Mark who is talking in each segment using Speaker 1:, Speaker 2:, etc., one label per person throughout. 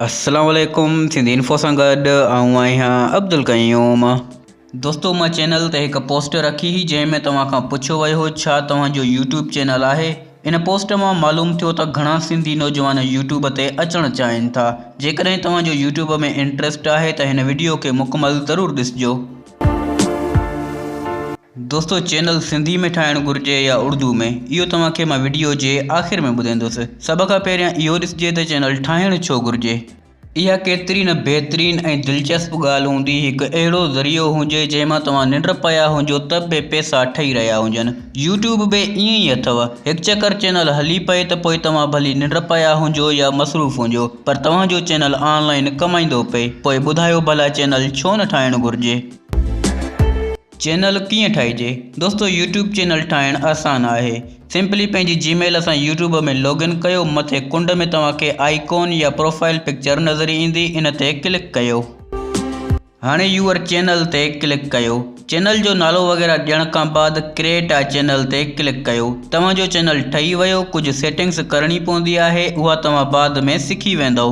Speaker 1: السلام عليڪم سنڌي انفو سان گڏ آئون آهيان عبدالقيوم دوستو مان چينل تي هڪ پوسٽ رکي هئي جنهن ۾ توهان کان پڇيو ويو هو ڇا توهان جو يوٽيوب چينل آهي ان پوسٽ مان معلوم ٿيو ته گهڻا سنڌي نوجوان يوٽيوب تي اچڻ چاهين ٿا جيڪڏهن توهان جو يوٽيوب ۾ انٽريسٽ آهي ته هن وڊيو کي مڪمل ضرور ڏسجو دوستو چينل سنڌي ۾ ٺاهڻ گهرجي يا اڙدو ۾ اهو توهان کي مان وڊيو جي آخر ۾ ٻڌائيندس سڀ کان پهريان اهو ڏسجي ته چينل ٺاهڻ ڇو گهرجي. اها ڪيتري نه بهترين ۽ دلچسپ ڳالهه هوندي هڪ اهڙو ذريعو هجي جنهن مان توهان ننڊ پيا هجو ته به پيسا ٺهي رهيا هجن. يوٽيوب به ائين ئي اٿو هڪ چڪر چينل هلي پئي ته پوء توهان ڀلي ننڊ پيا هجو يا مصروف هجو پر توهان جو چينل آن لائين ڪمائيندو پئي پوء ٻڌايو ڀلا چينل ڇو نه ٺاهڻ گهرجي. چينل ڪيئن ٺاهجي دوستو يوٽيوب چينل ٺاهڻ آسان آهي سمپلي پنهنجي جي ميل سان يوٽيوب ۾ لوگ ان ڪيو مٿي ڪنڊ ۾ توهان کي آئي ڪون يا پروفائيل پڪچر نظر ايندي ان تي ڪلڪ ڪيو. هاڻي يور چينل تي ڪلڪ ڪيو چينل جو نالو وغيره ڏيڻ کان بعد ڪريٽ آء چينل تي ڪلڪ ڪيو توهان جو چينل ٺهي ويو ڪجهه سيٽنگس ڪرڻي پوندي آهي اها توهان بعد ۾ سکي ويندؤ.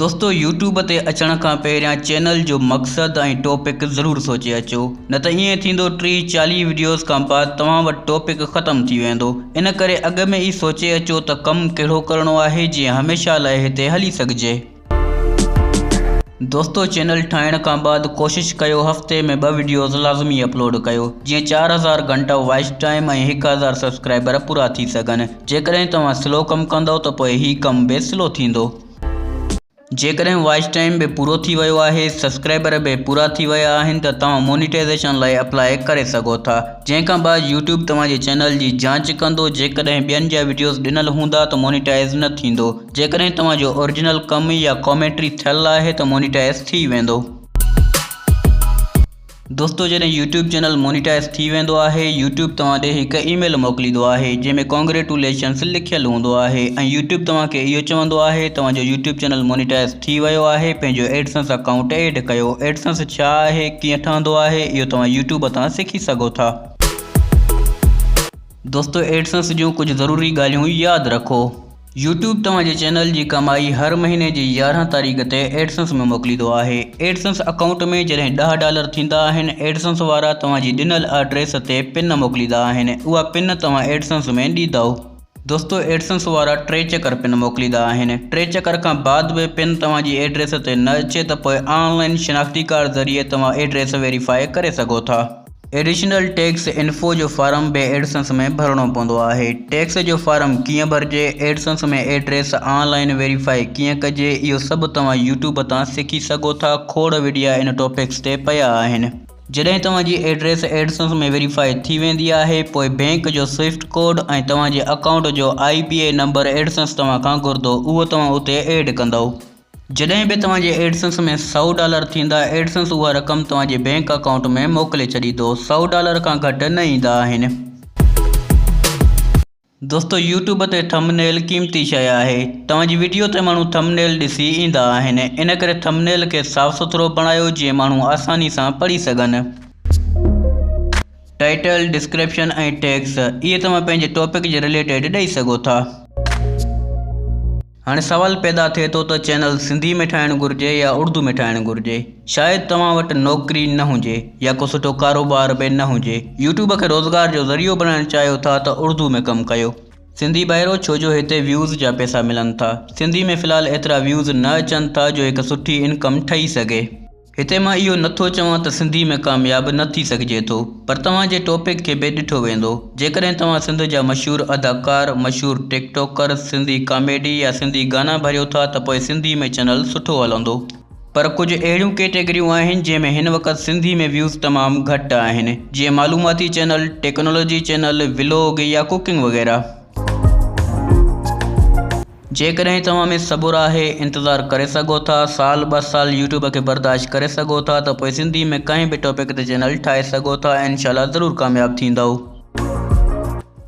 Speaker 1: دوستو يوٽيوب تي اچڻ کان پهريان چينل جو مقصد ۽ ٽوپڪ ضرور سوچي اچو نه ته ائين ٿيندو ٽيهه چاليهه وڊيوز کان بعد توهان وٽ ٽوپڪ ختم ٿي ويندو ان ڪري اڳ ۾ ئي سوچي اچو ته ڪم ڪهڙو ڪرڻو آهي جيئن هميشه لاء هتي هلي سگهجي. دوستو چينل ٺاهڻ کان بعد ڪوشش ڪيو هفتي ۾ ٻه وڊيوز لازمي اپلوڊ ڪيو جيئن چار هزار گهنٽا واچ ٽائيم ۽ هڪ هزار سبسڪرائبر پورا ٿي سگهن جيڪڏهن توهان سلو ڪم ڪندؤ ته پوء هي ڪم به سلو ٿيندو جيڪڏهن واچ ٽائيم به پورو ٿي ويو آهي سبسڪرائبر به پورا ٿي ويا آهن ته توهان مونيٽائيزيشن لاء اپلاء ڪري سگهو ٿا جنهن کان بعد يوٽيوب توهان جي چينل جي جانچ ڪندو جيڪڏهن ٻين جا وڊيوز ڏنل هوندا ته مونيٽائيز نه ٿيندو جيڪڏهن توهان جو اورجنل ڪم يا ڪامينٽري ٿيل آهي ته مونيٽائيز ٿي ويندو. دوستو جڏهن يوٽيوب چينل مونيٽائيز ٿي ويندو آهي يوٽيوب توهان ڏي هڪ اي ميل موڪليندو آهي جنهن ۾ ڪانگريٽوليشنس لکيل هوندو آهي ۽ يوٽيوب توهان کي اهو چوندو آهي توهان جو يوٽيوب چينل مونيٽائيز ٿي ويو آهي پنهنجو ايڊسنس اڪائونٽ ايڊ ڪيو ايڊسنس ڇا آهي ڪيئن ٺهندو آهي اهو توهان يوٽيوب تان سکي سگهو ٿا. دوستو ايڊسنس جون ڪجهه ضروري ڳالهيون ياد رکو. يوٽيوب توهان جي چينل جي ڪمائي هر مهيني جي يارهن تاريخ تي ايڊسنس ۾ موڪليندو آهي. ايڊسنس اڪائونٽ ۾ جڏهن ڏهه ڊالر ٿيندا آهن، ايڊسنس وارا توهان جي ڏنل آڊريس تي پن موڪليندا آهن، اها پن توهان ايڊسنس ۾ ڏيندؤ. دوستو ايڊسنس وارا ٽي چڪر پن موڪليندا آهن. ٽي چڪر کان بعد به پن توهان جي ايڊريس تي نه اچي ته پوء آن لائن شناختي ڪارڊ ذريعي توهان ايڊريس ويريفائي ڪري سگهو ٿا. ايڊيشنل ٽيڪس انفو جو فارم به ايڊسنس ۾ ڀرڻو پوندو آهي. ٽيڪس جو فارم ڪيئن ڀرجي، AdSense ۾ address online verify ڪيئن ڪجي اهو سڀ توهان يوٽيوب تان سکي سگهو ٿا کوڙ وڊيا ان ٽاپڪس تي پيا آهن. جڏهن توهان جي ايڊريس ايڊسنس ۾ ويريفاء ٿي ويندي آهي پوء بينڪ جو سوئفٽ ڪوڊ ۽ توهان جي اڪائونٽ جو آئي بي اي نمبر ايڊسنس توهان کان گهردو اهو توهان اتي ايڊ ڪندئو. جڏهن به توهان جي ايڊسنس ۾ سؤ ڊالر ٿيندا، ايڊسنس اها رقم توهان جي بينڪ اڪائونٽ ۾ موڪلي ڇڏيندو. سؤ ڊالر کان گهٽ نه ايندا آهن. دوستو يوٽيوب تي ٿمب نيل قيمتي شيء آهي. توهان جي وڊيو تي ماڻهو ٿمب نيل ڏسي ايندا آهن. ان ڪري ٿمب نيل کي صاف سٿرو بڻايو جيئن ماڻهو آساني سان پڙهي سگهن. ٽائيٽل، ڊسڪرپشن ۽ ٽيگس اهي توهان پنهنجي ٽاپڪ جي رليٽيڊ ڏئي سگهو ٿا. هاڻي سوال پيدا ٿئي ٿو ته چينل سنڌي ۾ ٺاهڻ گهرجي يا اڙدو ۾ ٺاهڻ گهرجي؟ شايد توهان وٽ نوڪري نه هجي يا ڪو سٺو ڪاروبار به نه هجي يوٽيوب کي روزگار جو ذريعو بڻائڻ چاهيو ٿا ته اڙدو ۾ ڪم ڪيو. سنڌي ڀائرو ڇو جو هتي ويوز جا پئسا ملن ٿا. سنڌي ۾ في الحال ايترا ويوز نه اچن ٿا جو هڪ سٺي انڪم ٺهي سگهي. هتي مان اهو نه ٿو چوان ته سنڌي ۾ ڪامياب نه ٿي سگهجي ٿو پر توهان جي ٽوپڪ کي بي ڏٺو ويندو جيڪڏهن توهان سنڌ جا مشهور اداڪار مشهور ٽيڪ ٽوڪر سنڌي ڪاميڊي يا سنڌي گانا ڀريو ٿا ته پوء سنڌي ۾ چئنل سٺو هلندو پر ڪجهه اهڙيون ڪيٽيگريون آهن جنهن ۾ هن وقت سنڌي ۾ ويوز تمام گهٽ آهن جيئن معلوماتي چئنل ٽيڪنالاجي چئنل ولوگ يا ڪوڪنگ وغيره. جيڪڏهن توهان ۾ صبر آهي انتظار ڪري سگهو ٿا سال ٻه سال يوٽيوب کي برداشت ڪري سگهو ٿا ته پوء سنڌي ۾ ڪنهن به ٽاپڪ تي چينل ٺاهي سگهو ٿا ۽ انشاء الله ضرور ڪامياب ٿيندؤ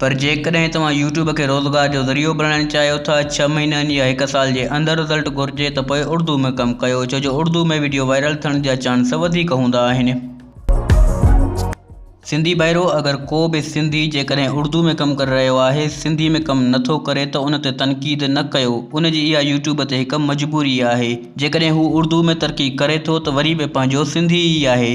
Speaker 1: پر جيڪڏهن توهان يوٽيوب کي روزگار جو ذريعو بڻائڻ چاهيو ٿا ڇهه مهينن يا هڪ سال جي اندر رزلٽ گهرجي ته پوء اڙدو ۾ ڪم ڪيو ڇو جو اڙدو ۾ وڊيو وائرل ٿيڻ جا چانس وڌيڪ هوندا آهن. سنڌي ڀائرو اگر ڪو به سنڌي جيڪڏهن اڙدو ۾ ڪم ڪري رهيو آهي سنڌي ۾ ڪم نه ٿو ڪري ته ان تي تنقيد نه ڪيو ان جي اها يوٽيوب تي هڪ مجبوري آهي جيڪڏهن هو اڙدو ۾ ترقي ڪري ٿو ته وري به پنهنجو سنڌي ئي آهي.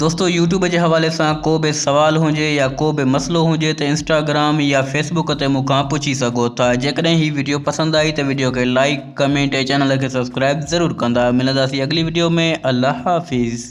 Speaker 1: دوستو يوٽيوب جي حوالي سان ڪو به سوال هجي يا ڪو به مسئلو هجي ته انسٽاگرام يا فيسبوڪ تي مون کان پڇي سگهو ٿا جيڪڏهن هي وڊيو پسند آئي ته وڊيو کي لائيڪ ڪمينٽ ۽ چينل کي سبسڪرائيب ضرور ڪندا ملنداسين اڳلي وڊيو ۾ الله حافظ.